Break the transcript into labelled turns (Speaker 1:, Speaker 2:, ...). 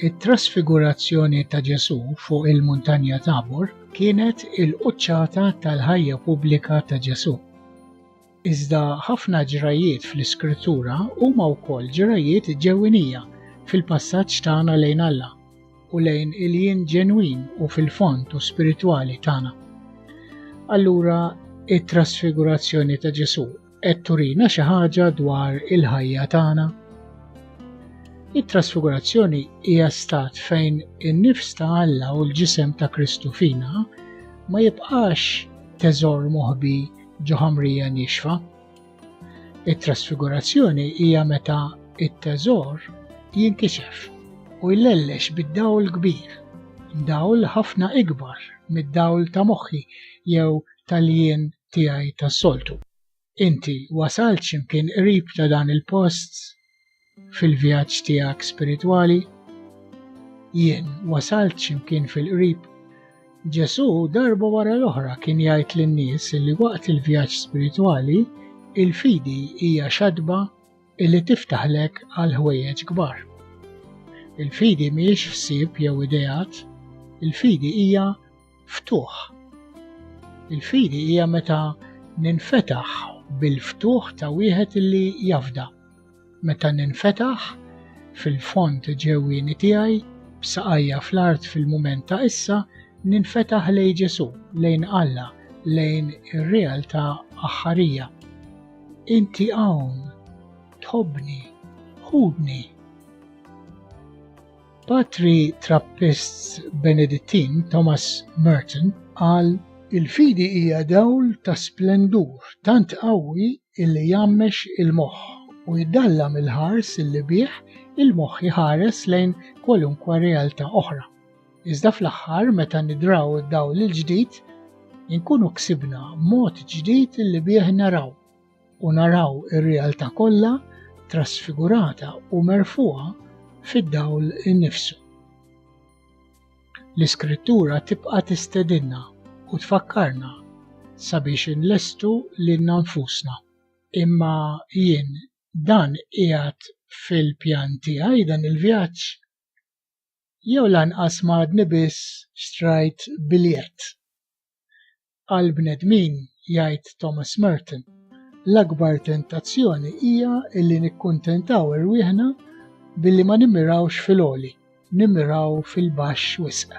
Speaker 1: It-trasfigurazzjoni ta' Ġesù fuq il-Muntanja Tabor kienet il-quċċata tal-ħajja pubblika ta' Ġesù. Iżda ħafna ġrajiet fl-Iskrittura huma wkoll ġrajiet ġewwinija fil-passaġġ tagħna lejn Alla. u lejn il-jien ġenwin u fil-fond u spiritwali tagħna. Allura it-trasfigurazzjoni ta' Ġesu qed turina xi ħaġa dwar il-ħajja tagħna. It-trasfigurazzjoni hija stat fejn in-nifs ta' Alla u l-ġisem ta' Kristu fina ma jibqax teżor moħbi ġo ħamrija nixfa, It-trasfigurazzjoni hija meta t-teżor jinkixef u jlellex bid-dawl kbir, dawl ħafna ikbar mid-dawl ta' moħħi jew tal-jien tiegħi tas-soltu. Inti wasalt x'imkien qrib ta' dan il-post fil-vjaġġ tiegħek spiritwali? Jien wasalt x'imkien fil-qrib. Ġesù darba wara l-oħra kien jgħid lin-nies li waqt il-vjaġġ spiritwali il-fidi hija xadba li tiftaħlek għal ħwejjeġ kbar. Il-fidi mhijiex ħsieb jew ideat, il-fidi hija ftuħ. Il-fidi hija meta ninfetaħ bil-ftuħ ta' wieħed li jafda, meta ninfetaħ fil-fond ġewwieni tiegħi b'saqajja fl-art fil-mument ta' issa ninfetaħ lejn Ġesù, lejn Alla, lejn ir-realtà aħħarija. Inti hawn, tħobbni, ħudni. Patri Trappist Benedittin Thomas Merton qal Il-fidi hija dawl ta' splendur tant qawwi illi jgħammex il-moħħ u jdallam il-ħars illi bih il-moħħ iħares lejn kwalunkwe realtà oħra. Iżda fl-aħħar meta nidraw id-dawl il-ġdid, inkunu ksibna mod ġdid illi bih naraw. u naraw ir-realtà kollha trasfigurata u merfuha fid-dawl innifsu. L-Iskrittura tibqa' tistedinna u tfakkarna sabiex inlestu lilna nfusna. Imma jien dan qiegħed fil-pjan tiegħi dan il-vjaġġ? Jew lanqas m'għadni biss xtrajt biljett? għall-bnedmin, jgħid Thomas Merton, l-akbar tentazzjoni hija li nikkuntentaw irwieħna billi ma nimmirawx fil-għoli, nimmiraw fil-baxx wisq.